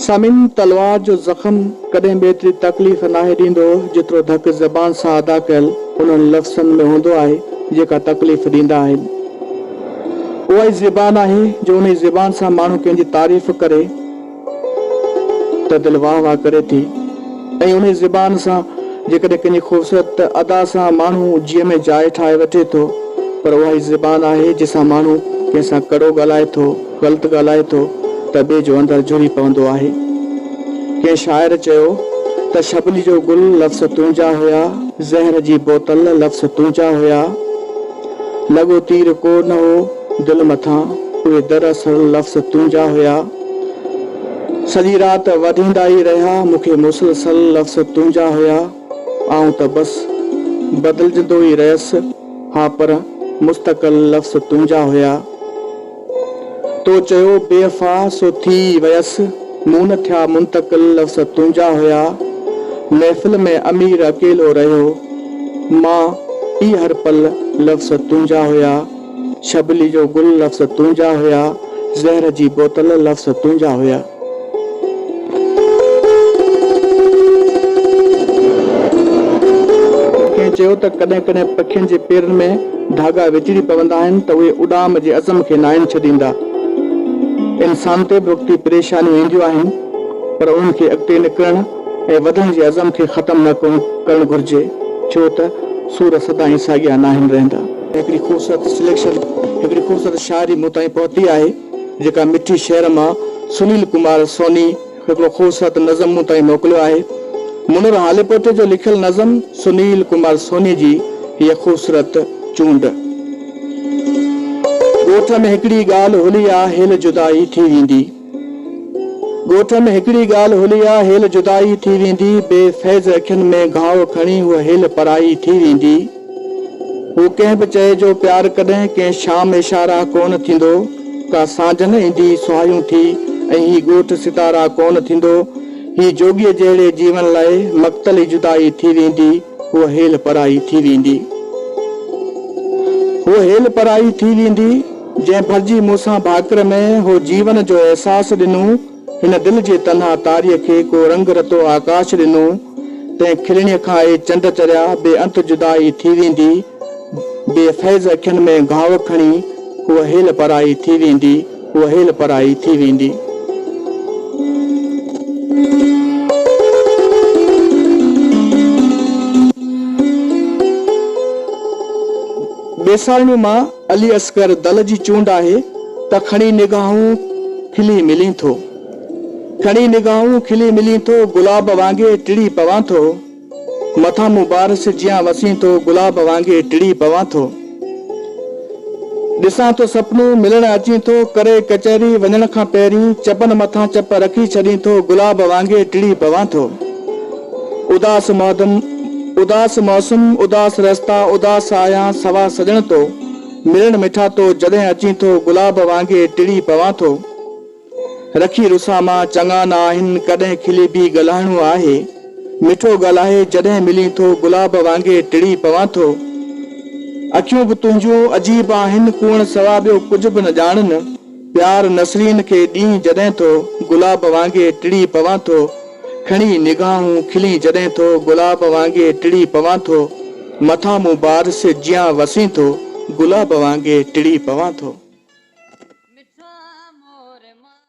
سامعين! تلوار جو زخم ڪڏهن به ايتري تڪليف ناهي ڏيندو، جيترو ڌڪ زبان سان ادا ڪيل انهن لفظن ۾ هوندو آهي، جيڪا تڪليف ڏيندا آهن. اها ئي زبان آهي جو انهي زبان سان ماڻهو ڪنهن جي تعريف ڪري ته دل واهه واهه ڪري ٿي ۽ انهي زبان سان جيڪڏهن ڪنهن جي خوبصورت ادا سان ماڻهو جيء ۾ جاء ٺاهي وٺي ٿو پر اها ئي زبان آهي جنهن سان ماڻهو ڪنهن سان ڪڙو ڳالهائي ٿو غلط ڳالهائي ٿو ته ٻئي جو اندر جهري پوندو آهي ڪنهن شاعر چيو ته ڇٻلي جو گل لفظ تنهنجا هيا زهر جي بوتل لفظ تنهنجا هيا. لڳو تير ڪو نه هو دل مٿان، اهي دراصل لفظ تنهنجا هيا. سڄي رات وڌيندا ئي رهيا، مون کي مسلسل لفظ تنهنجا هيا. آئون ته بس بدلجندو ئي رهيس ها پر مستقل لفظ تنهنجا هيا. تو چيو بيوفا سو ٿي ويس، مون نه ٿيا منتقل لفظ تنهنجا هيا، محفل ۾ امير اڪيلو رهيو، مان پي هر پل لفظ تنهنجا هيا، شبلي جو گل لفظ تنهنجا هيا، زهر جي بوتل لفظ تنهنجا هيا. ڪنهن چيو ته ڪڏهن ڪڏهن پکين جي پيرن ۾ ڌاڳا وچڙي پوندا آهن ته اهي اڏام جي عزم کي ناهن ڇڏيندا. انسان تي به وقتي پريشانيون اينديون آهن پر انهن کي اڳتي نڪرڻ ۽ وڌڻ جي عزم کي ختم نه ڪرڻ گهرجي ڇو ته سور سدائين ساڳيا ناهن رهندا. هڪڙي خوبصورت سليڪشن هڪڙي خوبصورت شاعري مون تائين پهتي آهي. جيڪا مٺي شعر مان سنيل ڪمار سوني هڪڙو خوبصورت نظم مون تائين موڪليو آهي. منير هاليپوٽي جو لکيل نظم سنيل ڪمار سوني جي هيء خوبصورت چونڊ. ڳوٺ ۾ هڪڙي ڳالهه هلي آ هيل جدائي ٿي ويندي. ڳوٺ ۾ هڪڙي ڳالهه هلي آ هيل جدائي ٿي ويندي. بي فيض اکين ۾ گهاء کڻي هوء هيل پرائي ٿي ويندي. هو ڪنهن به چئي جو پيار ڪڏهن ڪنهن شام اشارا ڪونه ٿيندو ڪا سانجهن ايندي سهايون ٿي ۽ هي ڳوٺ ستارا ڪونه ٿيندو هي جوڳيء جهڙي جيون لاء مقتل ئي جدائي ٿي ويندي هوء هيل پرائي ٿي ويندي هوء هيل پرائي ٿي ويندي جنهن ڀرجي مون سان ڀاڪر ۾ هو جيون جو احساس ڏنو هن دل جي تنها تاريء کي ڪو رنگ رتو آڪاش ڏنو، تنهن کلڻيء کان اهي چنڊ چريا، بي انت جدائي ٿي ويندي، بي فيض اکين ۾ گهاو کڻي، هوء هيل پرائي ٿي ويندي، هوء هيل پرائي ٿي ويندي. ٻيسارڻيء مان علي اصغر دل جي چونڊ آهي ته کڻي نگاهون کلي ملين ٿو کڻي نگاهون کلي ملين ٿو گلاب وانگي ٽڙي پوان ٿو مٿان مون بارش جيان وسين ٿو گلاب وانگي ٽڙي پوان ٿو ڏسان ٿو سپنو ملڻ اچين ٿو ڪري ڪچهري وڃڻ کان پهرين چپن مٿان چپ رکي ڇڏين ٿو گلاب وانگي ٽڙي پوان ٿو. اداس مادم، اداس موسم، اداس رستا، اداس آهيان سوا سڄڻ تو، ملڻ مٺا تو، جڏهن اچين ٿو، گلاب وانگي ٽڙي پوان ٿو. رکي رسا مان چڱا نه آهن، ڪڏهن کلي به ڳالهائڻو آهي، مٺو ڳالهائي جڏهن ملين ٿو، گلاب وانگي ٽڙي پوان ٿو. اکيون به تنهنجون عجيب آهن، ڪوئڻ سوا ٻيو ڪجهه به نه ڄاڻن. پيار نسرين کي ڏينهن جڏهن ٿو، گلاب وانگي ٽڙي پوان ٿو، کڻي نگاهون کلين جڏهن ٿو، گلاب وانگي ٽڙي پوان ٿو، مٿان مون بار سي جيان وسين ٿو، گلاب وانگي ٽڙي پوان ٿو.